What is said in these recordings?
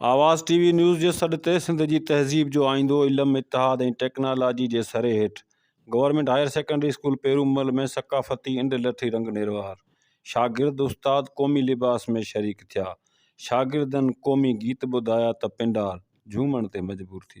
آواز TV news جي سڏ تي سنڌ جي تهذيب جو آئيندو علم، اتحاد ۽ ٽيڪنالاجي جي سري هيٺ government higher secondary school Perumal ۾ ثقافتي انڊ لٺي رنگ نروار شاگرد استاد قومي لباس ۾ شريڪ ٿيا شاگردن قومي گيت ٻڌايا ته پنڊار جهومڻ تي مجبور ٿي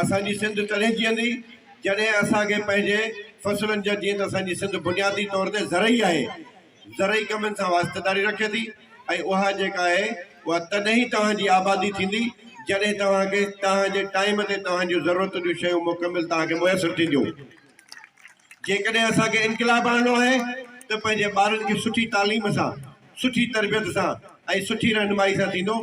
اسان جي سنڌ تڏهن جيئندي جڏهن اسان کي پنهنجي فصلن جا جيئن ته اسان جي سنڌ بنيادي طور تي زرعي آهي زرعي ڪمن سان واسطيداري رکي ٿي ۽ اها جيڪا آهي اها تڏهن ئي توهان جي آبادي ٿيندي جڏهن توهان کي توهان جي ٽائيم تي توهان جون ضرورتن جون شيون مڪمل توهان کي ميسر ٿينديون جيڪڏهن اسان کي انقلاب آڻڻو آهي ته پنهنجي ٻارن کي سٺي تعليم سان سٺي تربيت سان ۽ سٺي رهنمائي سان ٿيندو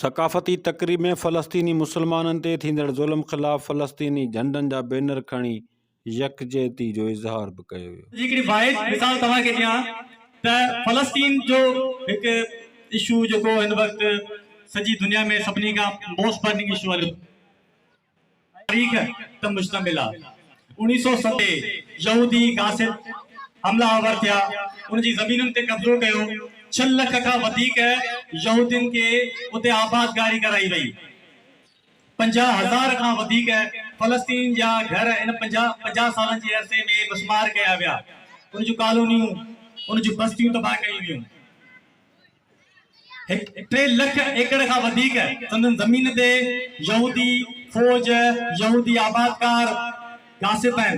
ثقافتي تقريب ۾ فلسطيني مسلمانن تي ٿيندڙ ظلم خلاف فلسطيني جهنڊن جا بينر کڻي يڪجهتي جو اظهار به ڪيو ويو. جي هڪڙي واحد مثال توهان کي ڏيان ته فلسطين جو هڪ اشو جيڪو هن وقت سڄي دنيا ۾ سڀني کان موسٽ برننگ اشو هليو تاريخ تي مشتمل آهي. اوڻيهه سؤ ست تي يهودي غاصب حملا آور ٿيا، ان جي زمينن تي قبضو ڪيو، ڇهه لک کان وڌيڪ يهودين کي اتي آبادگاري ڪرائي وئي، پنجاهه هزار کان وڌيڪ فلسطين جا گهر ان پنجاهه سالن جي عرصي ۾ مسمار ڪيا ويا، ان جون ڪالونيون، ان جون بستيون تباهه ڪيون ويون. هڪ ٽي لک ايڪڙ کان وڌيڪ سندن زمين تي يهودي فوج، يهودي آبادگار، غاصب آهن،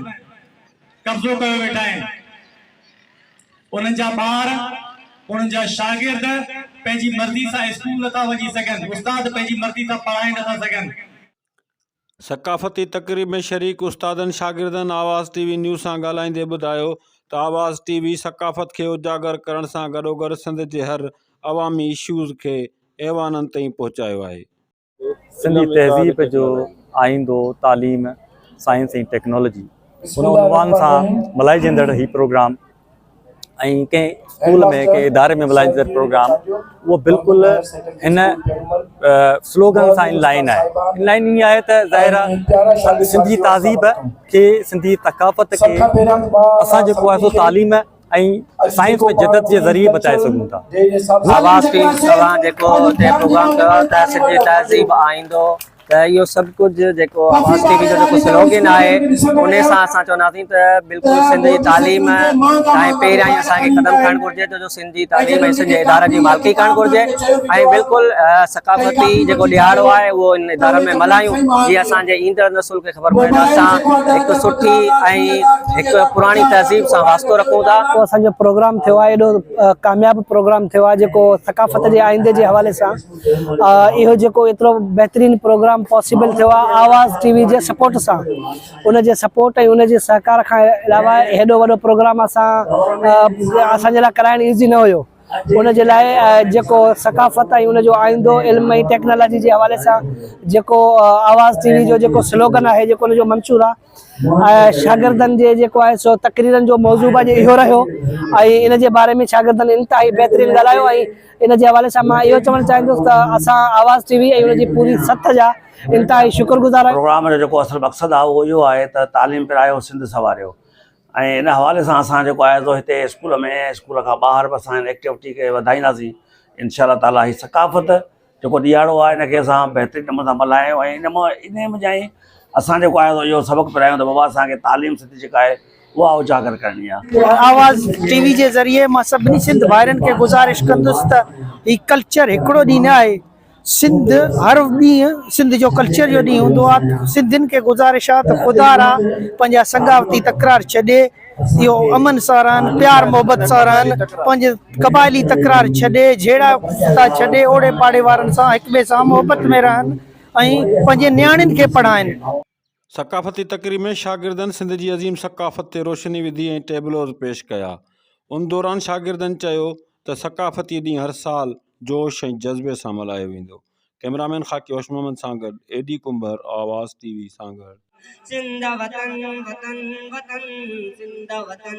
قبضو ڪيو ويٺا آهن. انهن جا ٻار، انهن جا شاگرد پنهنجي مرضي سان اسڪول نٿا وڃي سگهن، استاد پنهنجي مرضي سان پڙهائي نٿا سگهن. ثقافتي تقريب ۾ شريڪ استادن شاگردن آواز ٽي وي نيوز سان ڳالهائيندي ٻڌايو ته آواز ٽي وي ثقافت کي اجاگر ڪرڻ سان گڏوگڏ سنڌ جي هر عوامي اشوز کي ايوانن تائين پهچايو آهي. سنڌي تهذيب جو آئيندو، تعليم، سائنس ۽ ٽيڪنالاجي هن عنوان سان ملهائجندڙ هي پروگرام ۽ ڪنهن اسڪول ۾ ڪنهن اداري ۾ ملائيندي اٿس پروگرام اهو بلڪل هن سلوگن سان ان لائن آهي ان لائن ائين آهي ته ظاهر آهي سنڌي تهذيب کي سنڌي ثقافت کي اسان جيڪو آهي سو تعليم ۽ سائنس ۾ جدت جي ذريعي بچائي سگهون ٿا آواز ٽي سوان جيڪو هتي پروگرام ڪيو ته سنڌي تهذيب آئيندو ته اهو سڀ ڪجهه جيڪو آواز ٽي وي جو جيڪو سلوگن آهي ان سان اسان چونداسين ته بلڪل سنڌ جي تعليم ۽ پهريائين اسان کي قدم کڻڻ گهرجي ته جو سنڌ جي تعليم ۽ سنڌ جي ادارن جي مالڪي کڻڻ گهرجي ۽ بلڪل ثقافتي جيڪو ڏهاڙو آهي اهو ان ادارن ۾ ملهايون جي اسان جي ايندڙ نسل کي خبر پوي ته اسان هڪ سٺي ۽ هڪ پراڻي تهذيب سان واسطو رکون ٿا اهو اسان جو پروگرام ٿيو آهي ايڏو ڪامياب پروگرام ٿيو آهي جيڪو ثقافت جي آئيندي جي حوالي سان اهو جيڪو ايترو بهترين پروگرام پاسيبل ٿيو آهي آواز ٽي وي جي سپورٽ سان ان جي سپورٽ ۽ ان جي سهڪار کان علاوه هيڏو وڏو پروگرام اسان اسان جي لاء ڪرائڻ ايزي نه هيو ان جي لاء جيڪو ثقافت ۽ ان جو آئيندو علم ۽ ٽيڪنالاجي جي حوالي سان جيڪو آواز ٽي وي جو جيڪو سلوگن آهي جيڪو ان جو منشور آهي شاگردن جي جيڪو آهي سو تقريرن جو موضوع به اڄ اهو رهيو ۽ ان جي باري ۾ شاگردن انتهائي بهترين ڳالهايو ۽ ان جي حوالي سان مان اهو چوڻ چاهيندس ته اسان آواز ٽي وي ۽ ان جي پوري سٿ جا انتهائي شڪر گذار آهيون. پروگرام جو جيڪو اصل مقصد آهي اهو اهو آهي ته تعليم پرايو سنڌ سنواريو ۽ ان حوالي سان اسان جيڪو آهي سو هتي اسڪول ۾ ۽ اسڪول کان ٻاهر به اسان هن ايڪٽيوٽي کي وڌائينداسين انشاء الله تعالٰي هي ثقافت جيڪو ڏيهاڙو آهي ان کي اسان بهترين نموني سان ملهايون ۽ ان مو انهي مجائين اسان جيڪو آهي سو اهو سبق پرايون ته بابا اسان کي تعليم سنڌي جيڪا آهي اها اجاگر ڪرڻي آ. آواز ٽي وي جي ذريعي مان سڀني سنڌ ڀائرن کي گذارش ڪندس ته هي ڪلچر هڪڙو ڏينهن نه آهي سنڌ هر ڏينهن سنڌ جو ڪلچر جو ڏينهن هوندو آ سنڌين کي گذارش آ ته خدا را پنهنجا سگاوتي تڪرار ڇڏي اهو امن سان رهن پيار محبت سان رهن پنهنجي قبائلي تڪرار ڇڏي جهيڙا ڪتا ڇڏي اوڙي پاڙي وارن سان هڪ ٻئي سان محبت ۾ رهن ۽ پنهنجي نياڻين کي پڙهائن. ثقافتي تقريب ۾ شاگردن سنڌ جي عظيم ثقافت تي روشني وڌي ۽ ٽيبلوز پيش ڪيا. ان دوران شاگردن چيو ته ثقافتي ڏينهن هر سال جوش ۽ جذبي سان ملهايو ويندو. ڪئمرامين خاڪي هوش محمد سان گڏ اي ڊي ڪنڀر آواز ٽي وي سانگهڙ. سنڌ وطن وطن وطن سنڌ وطن.